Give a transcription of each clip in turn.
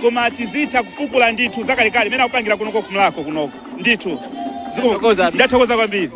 koma tizitha kufukula ndithu zakalekale mmene akupangira kunoko ku mulhako kunoko ndithu Ndathokoza. ndathokoza kwambiri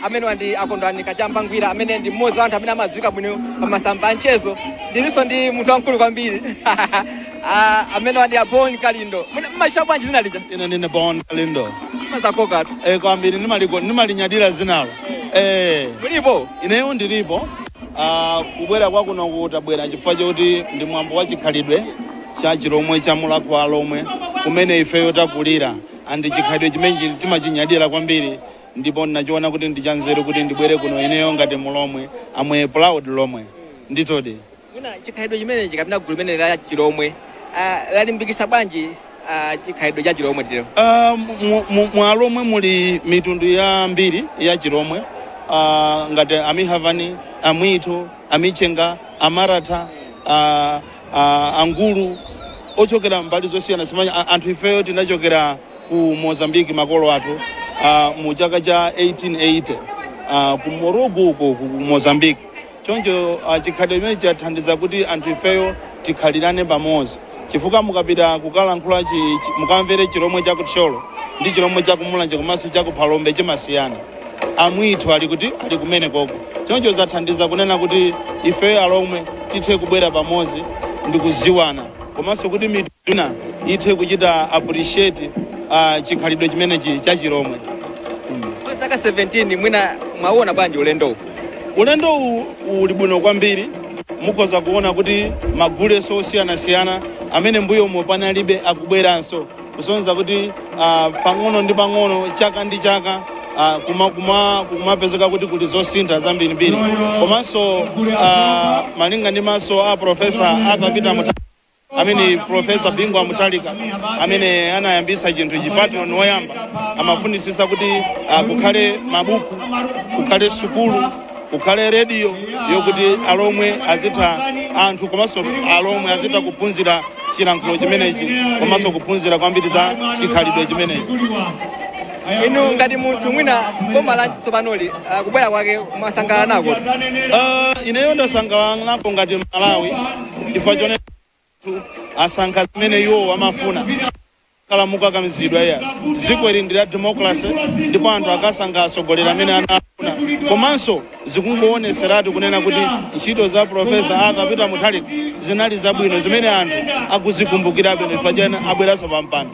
amenewa ndi a kondwani kachamba ngwira amene ndi mmodzi wa anthu amene amadziwika bwino pa masamba a mchezo ndilinso ndi munthu wamkulu kwambiri Ah, amenewa ndi a bon kalindo mmaitcha bwanji dzina lija ine ndine bon kalindo mazakokatu eh, kwambiri nimaliko- nimalinyadira dzinalo eh, mulipo ineyo ndilipo ah, kubwera kwa kunoko tabwera chifukwa choti ndi mwambo wa chikhalidwe cha chilomwe cha mulhako wa alomwe kumene ifeyo takulira and chikhalidwe chimenechi timachinyadira kwambiri ndipo ndinachiona kuti ndi chanzeru kuti ndibwere kuno ineyo ngati mulomwe I'm a proud lomwe nditerodi mwina chikhalidwe chimenechi kapena gulu limene la chilomwe ah, lalimbikitsa bwanji ah, chikhalidwe cha chilomwe tero Ah, mu- mu- mu alomwe muli mitundu yambiri ya chilomwe Ah, ngati amihavani amwitho amichenga amaratha ah, a angulu ochokera mbali zosiyanasiyana a- anthu ifeyo tinachokera ku mozambique makolo athu a, mu chaka cha 1880 a, ku morugu uko ku mozambique choncho a, chikhalidwe chimenechi chathandiza kuti anthu ifeyo tikhalirane pamodzi chifukwa mukapita kukalankhula chi- chi- mukamvere chilomwe cha kuthyolo ndi chilomwe cha kumulanje komanso cha kuphalombe chimasiyana amwitho ali kuti ali kumene koko choncho zathandiza kunena kuti ifeyo alomwe tithe kubwera pamodzi ndi kudziwana komanso kuti mitundu ina ithe kuchita appreciate uh, chikhalidwe chimenechi cha chilomwe Kwa zaka 17 mwina mwauona bwanji ulendo uwu? ulendo uwu uli bwino kwambiri mukhoza kuona kuti magulenso osiyanasiyana amene mbuyomo panalibe akubweranso kusonyeza kuti ah, pang'ono ndi pang'ono chaka ndi chaka ah, kuma- kuma- kumapezeka kuti kuli zosintha zambirimbiri komanso ah, malinga ndi maso a profesa arthur peter muta- amene profesa bingu wa mutharika amene anayambisa chinthuchi patron woyamba amafunitsitsa kuti ah, kukhale mabuku kukhale sukulu kukhale rediyo yokuti alomwe azitha anthu komanso alomwe azitha kuphunzira chilankhulo chimenechi komanso kuphunzira kwambiri za chikhalidwe chimenechi inu ngati munthu mwina boma la tsopanoli ah, kubwera kwake mwasangalala nako Ah, ineyo ndasangalala nako ngati mmalawi chifukwa chone anthu asankha zimene iwowo amafuna kukhala mokakamizidwa iyayi dziko ili ndi la democracy ndipo anthu akasankha atsogoleri amene anafuna komanso zikungowonetseratu kunena kuti ntchito za profesa arthur peter mutharika zinali zabwino zimene anthu akuzikumbukirabe chifukwa chake abweranso pampando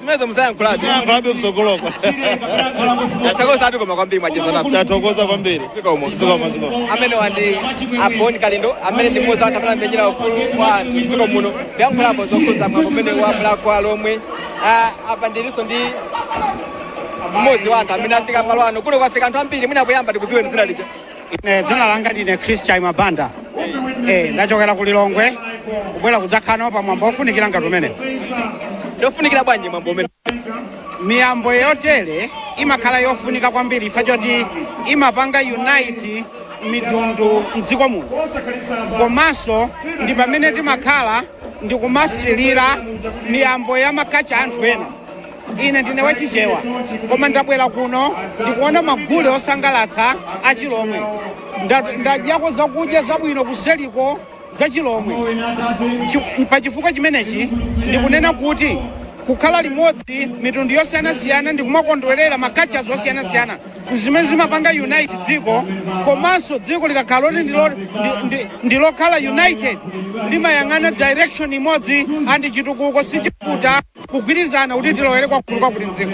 zimenezo muzayankhulabe Muzayankhulabe msogoloko. tathokozatu koma kwambiri mwachezanapo Tathokoza kwambiri. Zikomo. Zikomo, zikomo. amene wandi aboni kalindo amene ndi mmodzi anthu amene amenyera ufulu wa anthu mdziko muno kuyankhulapo zokhuza mwambo umene wa mlakho alomwe Ah, apa ndilinso ndi mmodzi wa anthu amene afika malo ano kuno kwafika anthu ambiri mwina poyamba tikudziweni dzina lija ine dzina langa ndine chris chaima banda eh, ndachokera ku lilongwe kubwera kudzakhala nawo pa mwambo wofunikira ngati umenewu ndofunikira bwanji mwambo umenewu miyambo yotere imakhala yofunika kwambiri chifukwa choti imapanga unite mitundu mdziko muno komanso ndi pamene timakhala ndikumasilira miyambo ya ma culture a anthu ena ine ndine wachichewa koma ndabwera kuno ndikuona magule osangalatsa achilomwe Nda- ndadyako zakudya zabwino kuseliko zachilomwe Chi- pa chifukwa chimenechi ndikunena kuti kukhala limodzi mitundu yosiyanasiyana ndikumakondwerera ma cultures osiyanasiyana zimene zimapanga unite dziko komanso dziko likakhala loti ndilo- ndi- ndi- ndilokhala united limayang'ana direction imodzi and chitukuko sichivuta kugwirizana kuti tilowere kwakulu ka kuti mdziko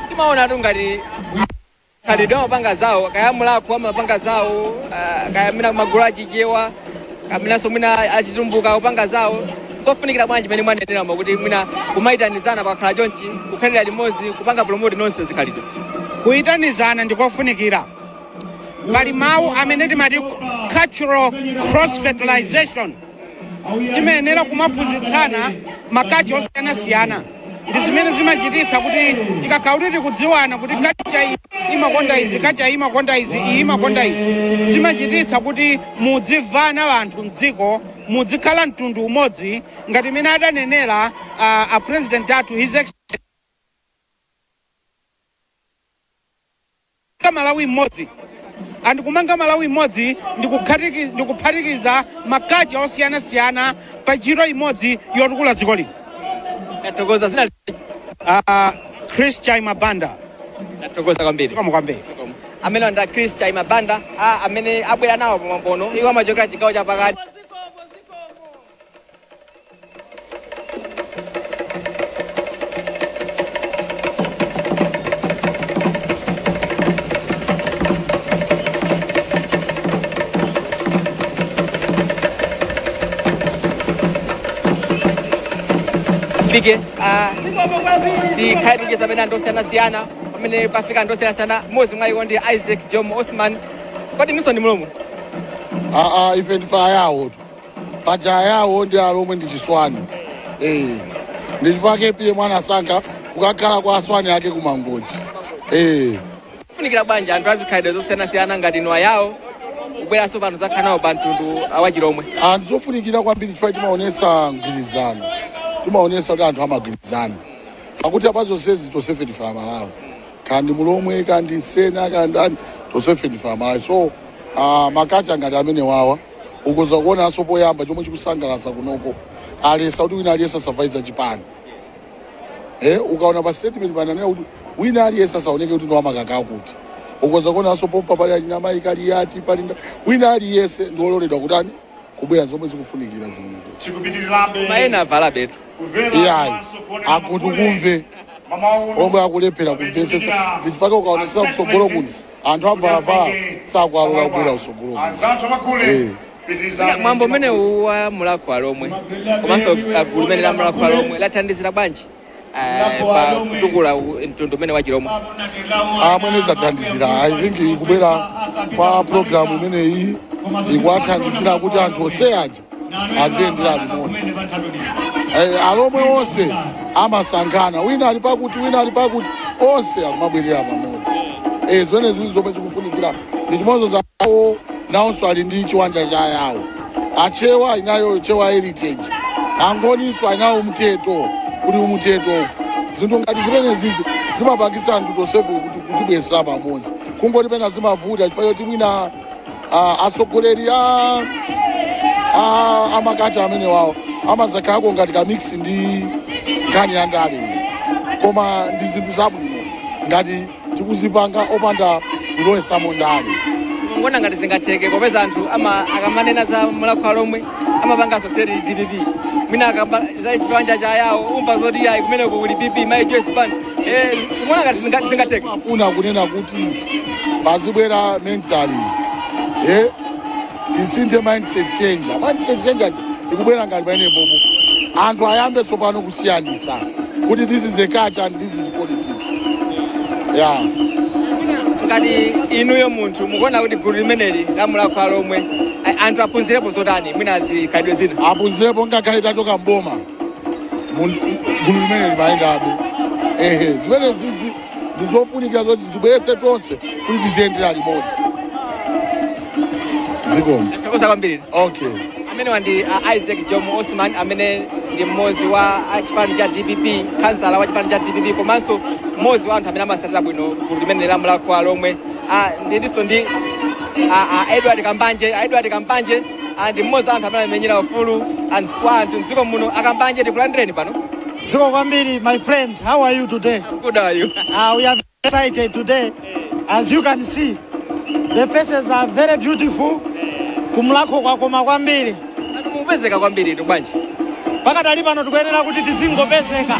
timaonatu ngati Chikhalidwe amapanga zawo kaya mulakho amapanga zawo ah, kaya mwina magulu achichewa kapenanso mwina achitumbuka kupanga zawo kofunikira bwanji mmene mwaneneramo kuti mwina kumayitanizana pakakhala chonchi kukhalira limodzi kupanga promote nonse zikhalidwe kuyitanizana ndikofunikira pali mawu amene timati cultural cross fertilization timayenera kumaphunzitsana ma culture osiyanasiyana ndi zimene zimachititsa kuti tikakhala kuti tikudziwana kuti culture iyi imakonda izi culture iyi imakonda izi iyi imakonda izi zimachititsa kuti mudzimvana anthu mdziko mudzikhala mtundu umodzi ngati mmene adanenera ah, a president athu his Excellency Kumanga Malawi Mmodzi. And kumanga Malawi Mmodzi ndi kukhatiki ndi kuphatikiza ma culture osiyanasiyana pa ntchito imodzi yotukula dziko lino. Tathokoza zedi Uh, Chris Chaima Banda. ndathokoza kwambiri. Zikomo kwambiri. Amenewo ndi a Chris Chaima Banda a amene abwera nawo pamwambo uno. Iwo amachokera chigawo cha pakati. tifike ah, tikhale tikucheza pena ndi osiyanasiyana pamene pafika ndi osiyanasiyana mmodzi mwa iwo ndi isaac jomo osman kodi inunso ndi mlomwe aa ife ndife ayawo paja ayawo ndi alomwe ndi chiswahani eh ndi chifake APM mwaona asankha kukakhala kwa asuwani ake kumangochi eh nkufunikira bwanji anthu azikhalidwe zosiyanasiyana ngati inu ayawo kubweranso pano kuzakhala nawo pa mtundu wachilomwe ndi zofunikira kwambiri chifukwa timaonesa mgwirizano timaonesa kuti anthu amagwirizana pakuti apa zonsezi tonsefe ndife amalawi kaya ndi mulomwe kaya ndi msena kaya ndi ani tonsefe ndife amalawi so ah, makacha ngati amene wawa ukoza kuonaso poyamba chomwe chikusangalasa kunoko aletsa kuti wina aliyese asavale za chipani eh, ukaona pa statement pananena kuti wina aliyese asaoneke kuti ndiwamakaka akuti ukoza kuonaso pompa pali anamayi kaliyati pali nda- wina aliyese ndiololedwa kutani kubwera zomwe zikufunikira zimenezo chikupitirirabe koma ena avala betu kumvera iyayi komanso kuonera akuti maule. kumve Mawa uno, omwe akulephera kumvetsetsa ndichifukwa ukaonesesa kutsogolo kuno anthu akavala sakualola kubwera kusogoloku anzathu amagule Eh. pitirizani Mwina mwambo umenewu wa mulakho wa alomwe komanso gulu limeneli la mulakho wa alomwe lathandizira bwanji eh, pa kutukula u- mtundu umenewu wa chilomwe mmene zathandizira i think kubwera kwa programu imeneyi ikuwathandizira kuti anthu onse aja aziyendera limodzi Eh, alomwe onse anabalalikana wina ali pakuti wina ali pakuti onse akumabwerera pamodzi Eh, zimene zili zomwe zikufunikira ndi chimodzimodzi ayawo nawonso ali ndi chiwanja cha yawo achewa ali nayo chewa heritage angoninso ali nawo umtheto kuli umtheto zinthu ngati zimenezizi zimapangisa anthu tosefe kuti- kutibwezera pamodzi kungoti pena zimavuta chifukwa choti mwina Ah, atsogoleri a a- amakacha amenewawo amazakhalako ngati ka mix ndi nkhani ya ndale koma ndi zinthu zabwino ngati tikuzipanga opanda kulowesamo ndale mukuona ngati zingatheke popeza anthu ama akamanena za mulakho wa alomwe amapanga associate ndi dpp mwina akamba za chiwanja cha yawo umva zoti ayi kumeneko kuli pp mayi joyce banda Eh, ndikuona ngati zinga- zingatheke ndimafuna kunena kuti paziyambira mentally eh tisinthe mindset change mindset change eya ikubwera ngati pamenepapo anthu ayambe tsopano kusiyanitsa kuti this is a culture and this is politics yeah ngati inuyo munthu mukuona kuti gulu limeneli la mulakho wa alomwe anthu aphunzirepo zotani mwina zikhalidwe zina aphunzirepo ngakhale tachoka mboma mun- gulu limeneli limayendabe ehe zimenezizi ndi zofunikira zoti zitibweretse tonse kuti tiziyendera limodzi zikomo tathokoza kwambiri okay amenewa ndi uh, isaac jomo osman amene ndi mmodzi wa a chipani cha dpp kansala wa chipani cha dpp komanso mmodzi wa anthu amene amasatira bwino gulu limeneli la mulakho wa alomwe uh, ndilinso ndi uh, uh, edward kambanje uh, edward kambanje ndi mmodzi wa anthu amene amenyera ufulu wa anthu mdziko muno a kambanje tikulandireni pano Zikomo kwambiri, my friend, how are you today? Good, how are you? Uh, we are very excited today. As you can see, the faces are very beautiful. Ku Mulhako kwakoma kwambiri. Mukupezeka kwambiritu bwanji. Pakadali pano tikuyenera kuti tizingopezeka.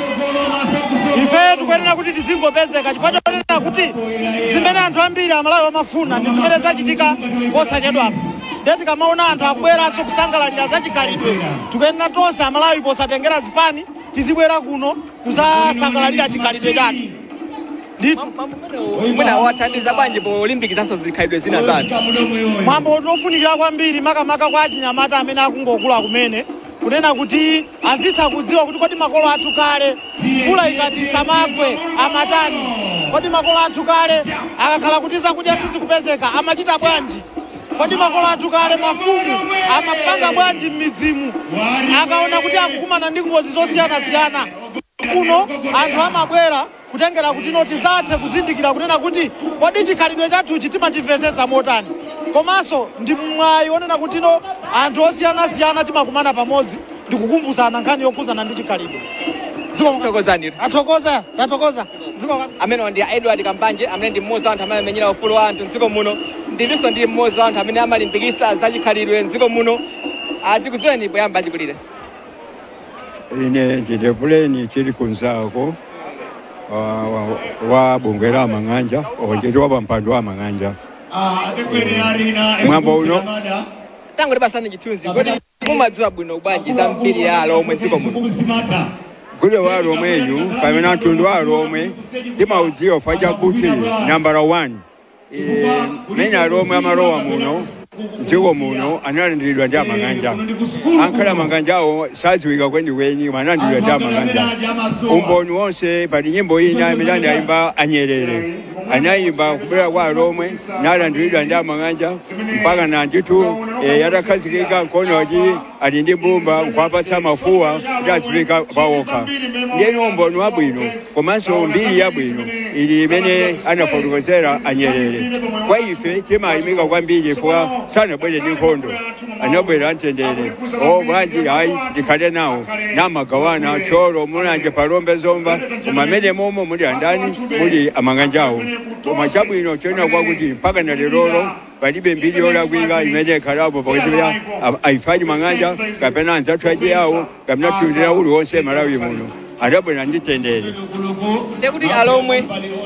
Ife tikuyenera kuti tizingopezeka chifukwa chonena kuti zimene anthu ambiri amalawi amafuna ndi zimene zachitika posachedwapo. ndiye tikamaona anthu akubweranso kusangalalira za chikhalidwe tikuyenera tonse amalawi posatengera zipani tizibwera kuno kuzasangalalira chikhalidwe chathu ndithu mwina wathandiza bwanji polimbikitsanso zikhalidwe zina zathu mwambo uno ofunikira kwambiri makamaka kwa achinyamata amene akungokula kumene kunena kuti azitha kudziwa kuti kodi makolo athu kale Mvula ikati isamagwe amatani? Kodi makolo athu kale akakhala kuti zakudya sizikupezeka amachita bwanji? Kodi makolo athu kale, mafumu, amapanga bwanji m'midzimu akaona kuti akukumana ndi ngozi zosiyanasiyana? Kuno anthu amabwera kutengera kutino tizathe kuzindikira kunena kuti kodi chikhalidwe chathuchi timachimvetsetsa motani komanso ndi mwayi wonena kutino anthu osiyanasiyana timakumana pamodzi ndi kukumbusana nkhani yokhudzana ndi chikhalidwe zikomo Thokozani inu. tathokoza tathokoza zikomo amenewa ndi a edward kambanje amene ndi mmodzi wa anthu amene amenyera ufulu wa anthu mdziko muno ndilinso ndi mmodzi wa anthu amene amalimbikitsa zachikhalidwe mdziko muno tikudziweni poyamba achikulire ine ndine puleni chilikumzako wa- wa- wa bungwe la amang'anja onjeti wapampando wa amang'anja mwambo uno tangotipatsani chithunzi kodi Mumadziwa bwino bwanji za mbiri ya alomwe mdziko muno? Gule wa alomweyu kapena mtundu wa alomwe timaudziwa chifukwa chakuti nambala 1 mmene alomwe amalowa muno mdziko muno analandiridwa ndi amang'anja angakhale amang'anjawo sadziwika kwenikweni koma analandiridwa ndi amang'anja umboni wonse pali nyimbo ina imene anayimba a nyerere anayimba kubwera kwa alomwe nalandiridwa ndi amang'anja mpaka na ndithu eh, atakhazikika nkono kuti ali ndi mbumba nkuwapatsa mafuwa kuti aziphika pawokha ndiye ndi umboni wabwino komanso mbiri yabwino ili imene anafotokozera a nyerere kwa ife timayamika kwambiri chifukwa sanabwere ndi nkhondo anabwera mwamtendere o bwanji ayi tikhale nawo namagawana thyolo mulanje phalombe zomba koma amene momo muli andani muli amang'anjawo Koma chabwino chonena nchakuti mpakana lero palibe mbiri yolakwika imene yakhalapo pakati pa a- ife achimang'anja kapena anzathu achiyawo kapena mtundu wina uliwonse malawi muno adabwera ndi mtendere ndekuti alomwe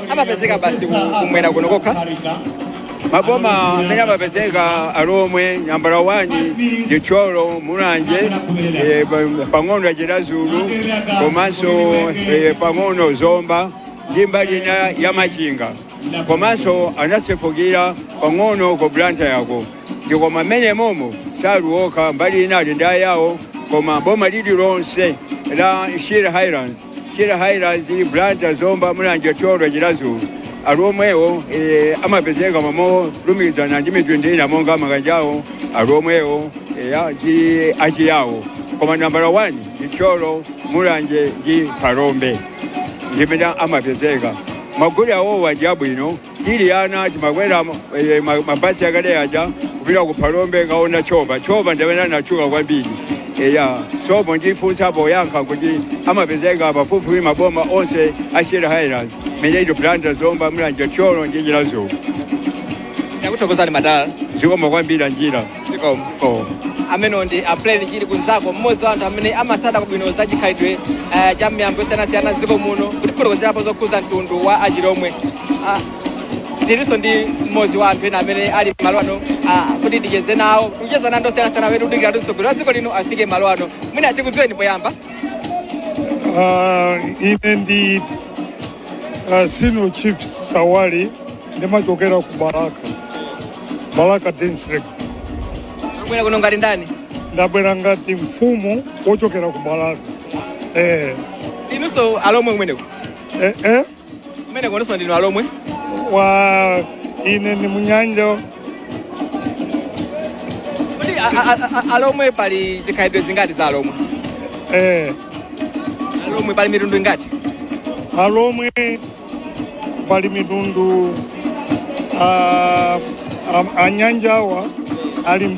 amapezeka basi ku- kumwera kuno kokha maboma amene amapezeka alomwe nambala 1 ndi Thyolo Mulanje eh, pa- pang'ono ya Chiradzulu komanso eh, pang'ono zomba ndi mbali ina ya Machinga komanso anasefukira pang'ono ku Blantyreko ndi koma mmene momo sali okha mbali ina ali ndi ayawo koma boma lililonse la Shire Highlands Shire Highlands Blantyre Zomba Mulanje Thyolo Chiradzulu alomwewo eh, amapezeka momolumikizana ndi mitundu ina monga amang'anjawo alomwewo eh, a- ndi achiyawo koma nambala 1 ndi Thyolo Mulanje ndi Phalombe ndimene amapezeka magule awo aja abwino tili ana timakwera eh, ma- mabasi akale aja kupita ku phalombe kukaona tchopa tchopa ndi amene anatchuka kwambiri eya sopo ndafuna kuyankha kuti amapezeka pafupifupi maboma onse a Shire Highlands meneito Blantyre Zomba Mulanje Thyolo ndi Chiradzulu takuthokozani madala zikomo kwambiri njira zikomo amenewo ndi a Pleni Chilikumzako mmodzi wa anthu amene amatsata bwino za chikhalidwe eh, cha miyambo yosiyanasiyana mdziko muno kutifotokozerapo zokhudza mtundu wa achilomwe Ah, tilinso ndi mmodzi wa anthu ena amene ali malo ano ah, kuti ticheze nawo kucheza ndi anthu osiyanasiyana amene tikudikira kuti mtsogoleri wa dziko lino afike malo ano mwina tikudziweni poyamba Ah, ine ndi ah, senior chief sawali ndimachokera ku balaka balaka district Mwabwera kuno ngati ndani? ndabwera ngati mfumu yochokera ku balaka eh, Inunso alomwe kumeneko. eh, eh, Kumeneko inunso ndinu alomwe. wa ine ni munyanja Kodi a- a- a- a- alomwe pali zikhalidwe zingati za alomwe? eh, Alomwe pali mitundu ingati? alomwe pali mitundu ah, am- anyanjawa ali